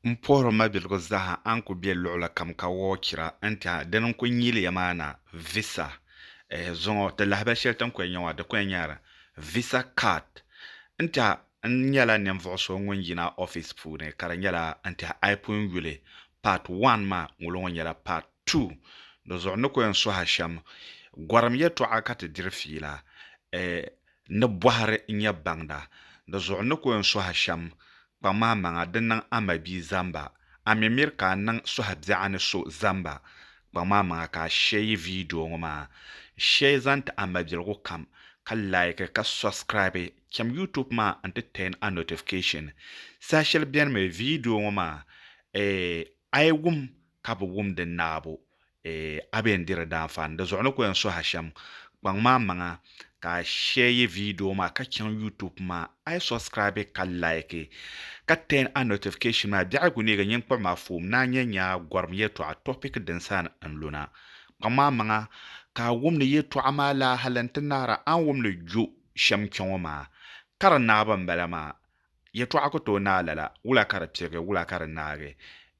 M puhiri ma biligu zaaha a ni ku be luɣili kam ka wɔɔ chira n-tɛha dini n-ku nyili ya maa na visa eh zuŋɔ ti lahabali shɛli ti ni ku yɛn nya maa di ku yɛn nyɛla visa card n-tɛha n nyɛla ninvuɣu so ŋun yina office puuni ka di nyɛla n-tɛha a yi pun yuli part one maa ŋolo ŋɔ nyɛla part two di zuɣu n ni ku yɛn suhi a shɛm gɔrim yɛltɔɣa ka ti diri fiila eh N ni bɔhiri n ya baŋda, di zuɣu n ni ku n suhu shɛm. Kpaŋ ma amaŋa di niŋ a mabia zamba. A mi miri ka a niŋ suhu biɛɣu ni so zamba. Kpaŋ ma amaŋa ka a shɛ yi vidio ŋɔ maa. Shɛ yi zaŋ ti a mabiligu kam, ka laiki ka sɔbsikiraabi. Cham YouTube maa n-ti tɛɛn a notification. Saha shɛli bɛn mi vidio ŋɔ maa, a yi wum ka bi wum di naabu, E a be n diri daanfaa n di zuɣu ni ko yɛn sohi a shɛm kpaŋ maa maŋa ka a shɛyi vidio maa ka chaŋ YouTube maa a yi subscribe ka like ka turn a notification maa biɛhigu ni ka nyiŋkpab maa foom ni a nya nyaa gɔrim yɛtɔɣa topic din saan n lu na kpaŋ maa maŋa ka a wum ni yɛtɔɣa maa laahali n ti naara a ni wum ni gyo shɛm kpɛŋɔ maa ka di naɣiba m bala maa Yɛtɔɣa ku tooi naai lala, wula ka di pirigi, wula ka di naagi?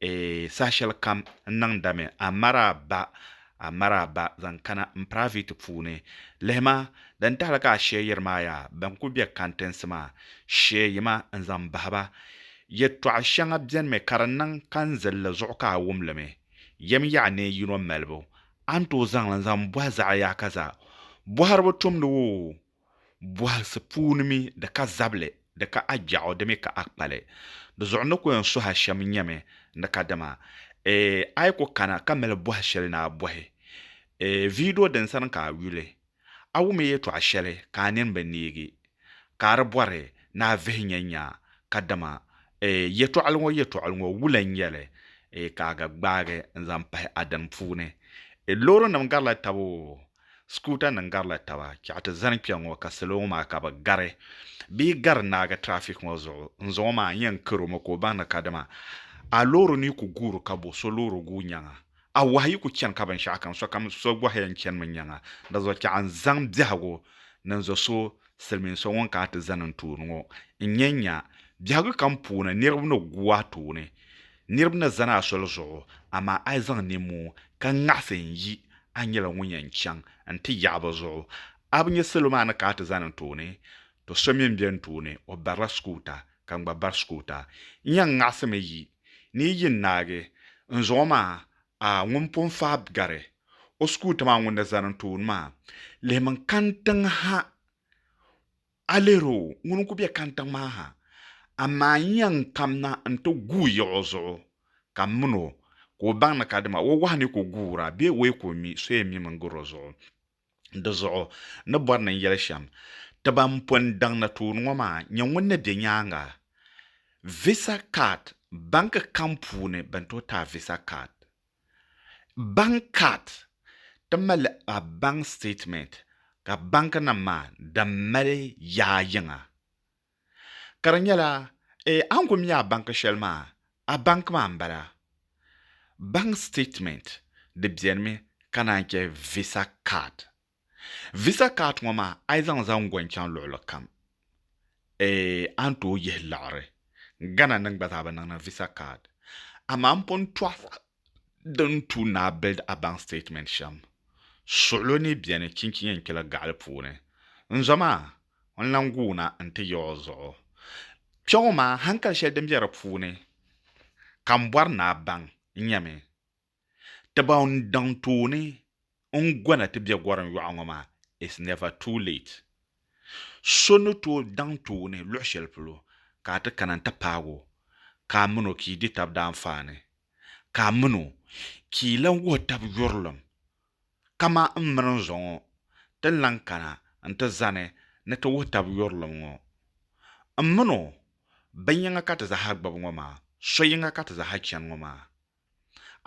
Eeh, saha shɛli kam n niŋdami, a mara ba, a mara ba, zaŋ kana n piraaviti puuni. Lihima, din tahili ka a sheei yiri maa yaa, bɛn ku be kantinsi maa, sheei ma n zaŋ bahi ba. Yɛtɔɣa shɛŋa benimi ka di niŋ ka n zilli li zuɣu ka a wum li mi. Yɛm yaɣa ni yino malibu, a ni tooi zaŋ li n zaŋ bɔhi zaɣa yaakaza bɔhiriba tumdi woo, bɔhisi puuni mi di ka zabili, di ka a gbiɛɣu di mi ka a kpali. Di zuɣu n ni ku yɛn suhi a shɛm nyɛmi ni kadama ee a yi ku kana ka mali bɔhi shɛli ni a bɔhi ee vidio din sani ka a yuli, a wumi yɛtɔɣ shɛli ka a nini bi neegi ka a di bɔri ni a vihi nya nya kadama ee yɛtɔɣili ŋɔ yɛtɔɣili ŋɔ wula n-nyɛ li ee ka a ga gbaagi n-zaŋ pahi a dini puuni. Loorinim garila taba oo. Skuta nim garila taba chɛɣu ti zani kpɛ ŋɔ ka salo ŋɔ maa ka bi gari bee gari naagi traffic ŋɔ zuɣu n zaŋɔ maa n yɛn karo mi ka o baŋ ni kadama a loori ni ku guuri ka bo so loori guui nyaŋa a wahi yi ku chani ka binshɛɣu kam sokam so gɔhi yɛn chani mi nyaŋa di zuɣu chɛɣu n zaŋ biɛhigu niŋ zo so silmiin so ŋun kana ti zani n tooni ŋɔ n yɛn nya biɛhigu kam puuni niriba ni gu a tooni Niriba ni zani a soli zuɣu, amaa a yi zaŋ ninmoo ka ŋaɣisi n-yi, a nyɛla ŋun yɛn chaŋ nti yaɣi bɛ zuɣu. A bi nya salo maa ni kana ti zani n tooni? Tɔ so mi m-be n tooni, o barila sukuuta, ka n gba bari sukuuta. N yɛn ŋaɣisimi yi. Ni yi yi n-naagi n zuɣu maa, a ŋun pun faai gari o sukuuta maa ŋun ni zani n tooni maa, lihimi n-kani tiŋ ha. A lihir o, ŋuni n-ku be kantiŋ maa ha, amaa n yɛn kamna nti guui yiɣ o zuɣu, ka m min o, ka o baŋ ni ka dama o wahu ni ka o guur a bee o yi ka o mi, so yɛn mimi n-gir o zuɣu. Di zuɣu n ni bɔri ni n yɛli shɛm ti ban pun daŋ ni tooni ŋɔ maa, Nyɛ ŋun ni be nyaaŋa, Visa Card, Banki kam puuni bɛn tooi taai Visa Card. Bank card ti mali a bank statement ka bank nim maa di mali yaa yiŋa ka di nyɛla a ni ku mi a bank shɛli maa a bank maa n bala bank statement di bɛni mi ka naan chɛ visa card. Visa card ŋɔ maa a yi zaŋ zaŋ gɔn chaŋ luɣili kam eeh a ni tooi yihi laɣiri. Ghana nim gba zaa bi niŋ ni visa card. Amaa n pun tɔɣisa din tuui ni a build a bank statement shɛm. Suɣilo ni beni chinchi yɛn kpela gaɣili puuni. N zo maa, n lan guuna n-ti ya o zuɣu. Kpe ŋɔ maa hankali shɛli din be di puuni ka m bɔri ni a baŋ n-nyɛ mi. Ti ba n daŋ tooni n gɔna ti bɛ gɔrim yɔɣu ŋɔ maa, it's never too late. So ni tooi daŋ tooni luɣi shɛli polo ka a ti kana n ti paag o ka a min o ka yi di tab daanfaani, ka a min o ka yi lan wuhi tab yurilim. Kaman m mini n zo ŋɔ, ti ni lan kana n ti zani ni ti wuhi tab yurilim ŋɔ. M min o, bin yiŋa ka ti zaaha gbibi ŋɔ maa, so yiŋa ka ti zaaha chani ŋɔ maa.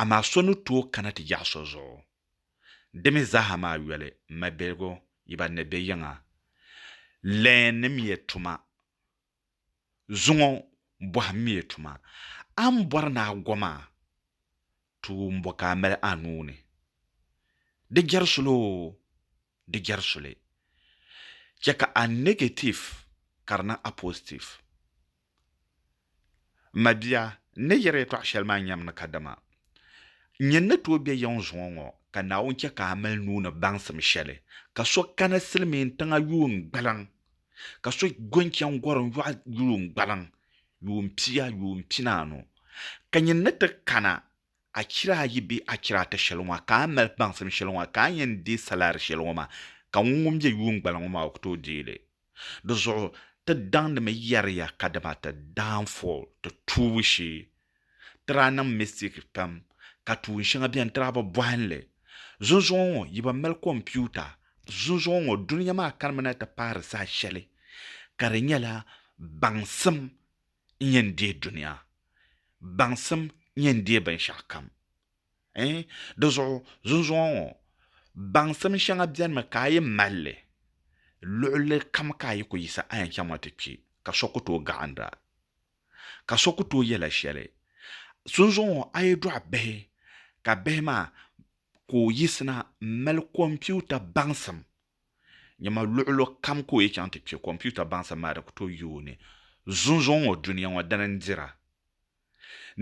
Amaa so ni tooi kana ti yaɣi so zuɣu. Di mi zaaha maa yoli mabiligu yi ba ni bɛ yiŋa leenimiya tuma. Zuŋɔ bɔhimmiya tuma. A ni bɔri ni a go maa, tuun bɔ ka a mali a nuu ni? Di jɛri suli oo, di jɛri suli. Chɛ ka a negative ka di niŋ a positive. M mabia, n ni yɛri yɛtɔɣ shɛli maa nyam ni kadama nyin ni tooi be yiŋ zuŋɔ ŋɔ, ka Naawuni chɛ ka a mali nuu ni baŋsim shɛli, ka so kana silimiin tiŋa yuun gbaliŋ, ka so gɔn chani gɔrim yɔɣu yuun gbaliŋ yuun pia yuun pinaanu, ka nyin ni ti kana achira ayi bee achira ata shɛli ŋɔ maa, ka a mali baŋsim shɛli ŋɔ maa, ka a yɛn deei salaari shɛli ŋɔ maa, ka ŋun ŋun be yuungbala ŋɔ maa o ku tooi deei li. Di zuɣu ti daŋdimi yɛriya ka dama ti downfall, ti tuubu shee, ti daa niŋ mistake pam, ka tuun shɛŋa beni ti daa bi bɔhim li. Zunzuŋɔ ŋɔ yi ba mali kompiuta, zunzuŋɔ ŋɔ dunia maa kanimi na ti paari saha shɛli ka di nyɛla baŋsim n-nyɛ n-deei dunia, baŋsim n-nyɛ n-deei binshɛɣukam. Ɛ? Di zuɣu zunzuŋɔ ŋɔ, baŋsim shɛŋa benimi ka a yi mali li, luɣilikam ka a yi ku yiɣisi a yɛn chaŋmi a ti kpi, ka so ku tooi gahindi a, ka so ku tooi yɛl a shɛli. Zunzuŋɔ ŋɔ, a yi dɔɣi bihi, ka bihi maa ku yiɣisina m-mali kompiuta baŋsim Nyama luɣulu kam ka o yi chaŋ ti kpe kompiuta baŋsim maa di ku tooi yi o ni. Zunzuŋ ŋɔ dunia ŋɔ dini n-dira.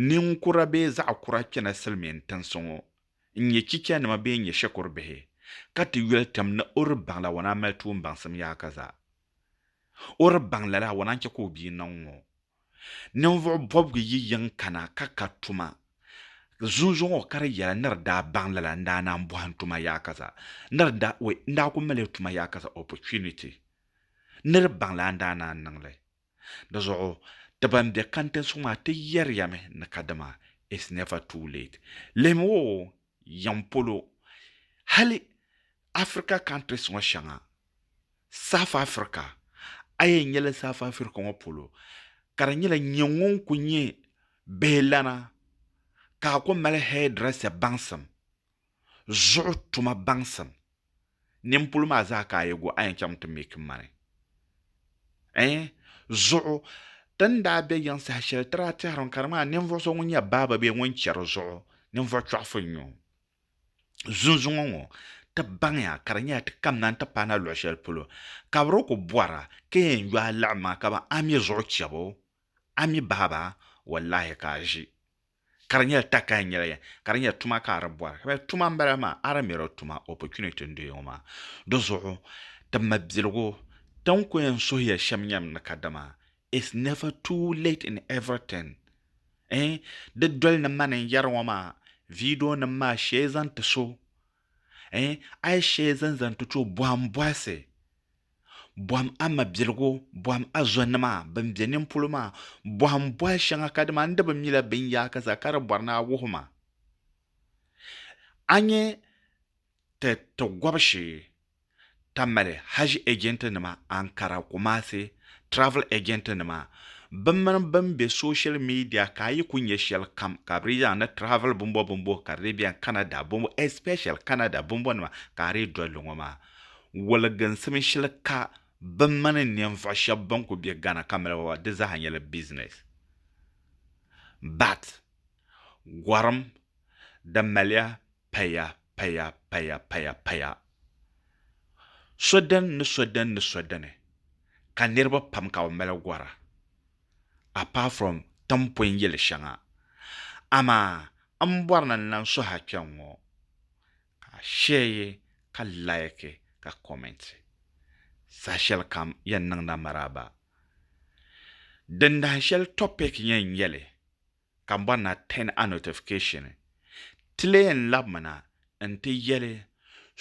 Ninkura bee zaɣ kura kpɛna silimiin tinsi ŋɔ n-nyɛ chichanima bee n-nyɛ shikuru bihi ka ti yoli tim ni o di baŋ la wana mali tuun baŋsim yaaka zaa. O di baŋ lala wana n-chɛ ka o bia niŋ ŋɔ. Ninvuɣ bɔbigu yi yiŋ kana ka ka tuma zunzuŋɔ ka di yɛla ni di daa baŋ lala n daa naan bɔhim tuma yaaka zaa. Ni di daa, wait, n daa ku mali tuma yaaka zaa, opportunity. Ni di baŋ la n daa naan niŋ li. Di zuɣu ti ban be kantinsi ŋɔ maa ti yɛriya mi ni kadama it's never too late. Lihimi o yiŋ polo hali Africa countries ŋɔ shɛŋa South Africa, a yɛn nyɛla South Africa ŋɔ polo ka di nyɛla nyɛ ŋun ku nyɛ bihi lana ka a ku mali hairdresser baŋsim, zuɣu tuma baŋsim, nini polo maa zaa ka a yi gu a yɛn chaŋ mi ti make money ɛɛh zuɣu ti ni daa bɛ yiŋ saha shɛli ti daa tɛhiri mi ka di ŋmanila ninvuɣu so ŋun nyɛ barber bee ŋun chɛri zuɣu ninvuɣu chɔɣifu n-nyɛ o. zunzuŋɔ ŋɔ ti baŋya ka di nyɛla ti kamina n ti pahi na luɣ shɛli polo ka bɛ daa kuli bɔra ka yɛn yo a liɣim maa ka ban a mi zuɣu chɛbu a mi bahi ba wallaahi ka a ʒi ka di nyɛla takaya n-nyɛla yɛn ka di nyɛla tuma ka a di bɔra ka bɛ yɛli tuma m-bala maa a di mi di tuma opportunity n-doya ŋɔ maa di zuɣu ti mabiligu ti ni kuli yɛn suhi ya shɛm nyam ni kadama It's never too late in everything eh Di doli ni mani n yɛri ŋɔ maa video nim maa shee zaŋ ti so eh A yi shee zaŋ zaŋ ti to bɔhim bɔhisi Bɔhim a mabiligu bɔhim a zonima bin be nini polo maa Bɔhim bɔhi shɛŋa ka dima n di bi mila binyaaka zaa ka di bɔri ni a wuhi ma A nyɛ Ti ti gɔbu shee ka mali Hajj agent nima Ankara, Kumasi, travel agent nima bɛ mini bɛn be social media ka a yi ku nya shɛli kam ka bɛ dii zaŋ ni travel bimbo bimbo ka di dii beni Canada bimbo especially Canada bimbo nima ka a dii doli li ŋɔ maa woliginsim shili ka bɛ mini ninvuɣu shɛba bɛn ku be Ghana ka mali ba di zaa nyɛla business but gɔrim di maliya paya paya paya paya paya so dini ni so dini ni so dini ka niriba pam ka bɛ mali gɔra apart from timpɔin yili shɛŋa amaa m bɔri ni n lan suhi a kpɛŋŋɔ ka a shɛɛ ka like ka comment saha-shɛlikam yɛn niŋdi a maraaba dindahinshɛli topic yɛn nyɛli ka m bɔri ni a turn a notification ti lee yɛn labimi na nti yɛli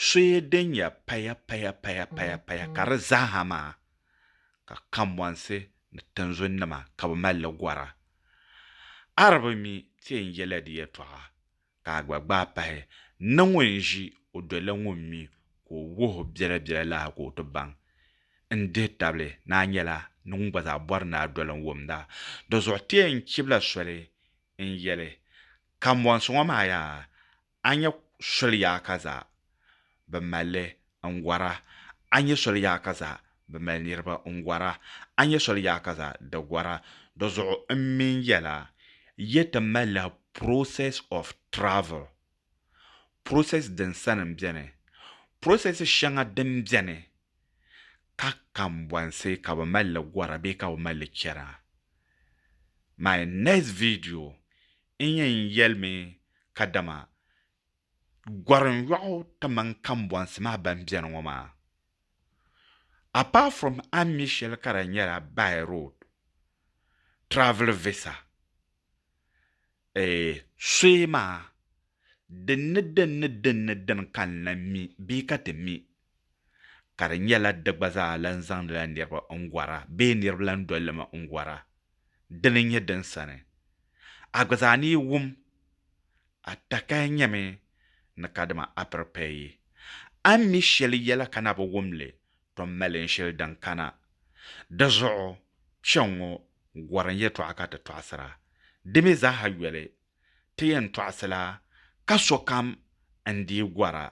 soya din ya paya paya paya paya paya ka di zaaha maa ka kambɔnsi ni tinzun nima ka bɛ mali li gɔra a di bi mi ti yɛn yɛla di yɛtɔɣa ka a gba gbaai pahi ni ŋun ʒi o doli la ŋun mi ka o wuhi o biɛla biɛla lahi ka o ti baŋ n dihi tabili ni a nyɛla ni ŋun gba zaa bɔri ni a doli n wumda. Dizuɣu ti yɛn chibila soli n yɛli, Kambɔnsi ŋɔ maa yaa, a nya soliya ka zaa. bi malli n gɔra, a ni nyɛ soli yaɣa ka zaa bi mali niriba n gɔra, a ni nyɛ soli yaɣa ka zaa di gɔra. Di zuɣu n mi n yɛla, yi ti malila process of travel, process din sani n beni, process shɛŋa din beni ka kambɔnsi ka bi malli gɔra bee ka bi malli chana. My next video n yɛn yɛlimi kadama gɔrim yɔɣu kamani kambɔnsi maa ban beni ŋɔ maa. Apart from a mi shɛli ka di nyɛla by road, travel visa, eh, soya maa din ni din ni din ni din ka n lan mi bee ka ti mi, ka di nyɛla di gba zaa lan zaŋdila niriba n-gɔra bee niriba lan doli li mi n-gɔra, dini n-nyɛ din sani. A gba zaa ni yi wum A takaya nyɛmi ni kadima a piri pay yi. A ni mi shɛli yɛla ka na bi wum li, to m-mali n shili din kana. Di zuɣu, kpɛŋŋo gɔri n yɛtɔɣa ka ti tɔɣisira. Di mi zaaha yoli, ti yɛn tɔɣisila ka sokam n dii gɔra.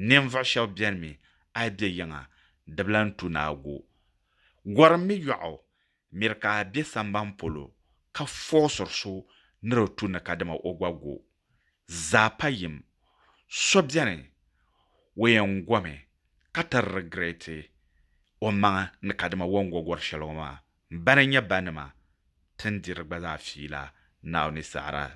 Ninvuɣ shɛb bɛnimi a yi be yiŋa, di bi lan tu ni a gu. Gɔri m-mi yɔɣu Miri ka a be samban polo ka fɔɣisiri so ni di tu ni kadama o gba go. Zaa pa yim, so beni o yɛn gomi ka ti rigireeti o maŋa ni kadama o ni go gɔri shɛli ŋɔ maa. Bana n-nyɛ ba nima ti ni diri gba zaa fiila Naawuni saɣira